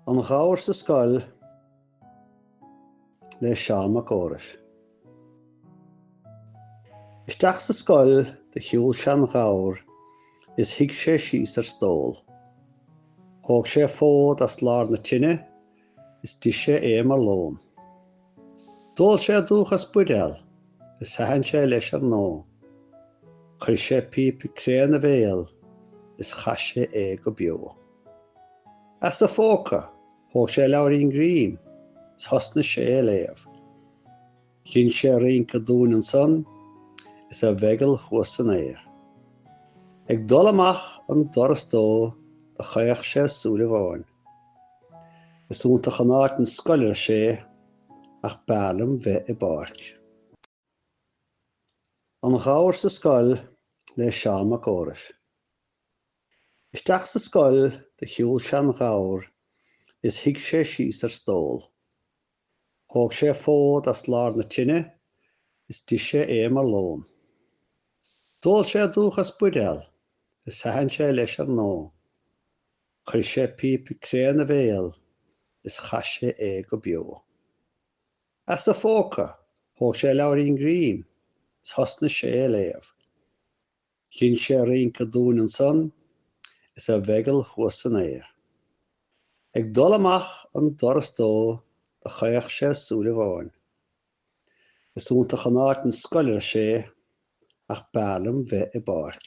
An Gabhar sa Scoil le Seán Mac Fheorais Isteach sa scoil do shiúil seanghabhar is shuigh sé síos ar stól. Thóg sé fód as lár na tine Is d'ith sé é mar lón. D'ól sé an dúch as buidéal is thaitin sé leis ar ndóigh. Chuir sé píp cré ina bhéal is chaith sé é go beo. As a phóca thóg sé leabhairín grinn is thosnaigh sé ag léamh. Dhein sé rince dúinn ansan is a mheigeall thuas san aer. Ag dul amach an doras dó do chaoch sé súil amháin. Is iontach an áit an scoil ar sé ach b'fhearr liom bheith i bpáirc. An Gabhar sa scoil le Seán Mac Fheorais. Isteach sa scoil do shiúil seanghabhar is shuigh sé síos ar stól. Thóg sé fód as lár na tine is d'ith sé é mar lón. D'ól sé an dúch as buidéal is thaitin sé leis ar ndóigh. Chuir sé píp cré ina bhéal is chaith sé é go beo. As a phóca thóg sé leabhairín grinn is thosnaigh sé ag léamh. Dhein sé rince dúinn ansan is a mheigeall thuas san aer. Ag dul amach an doras dó do chaoch sé súil amháin. Is iontach an áit an scoil ar sé ach b'fhearr liom bheith i bpáirc.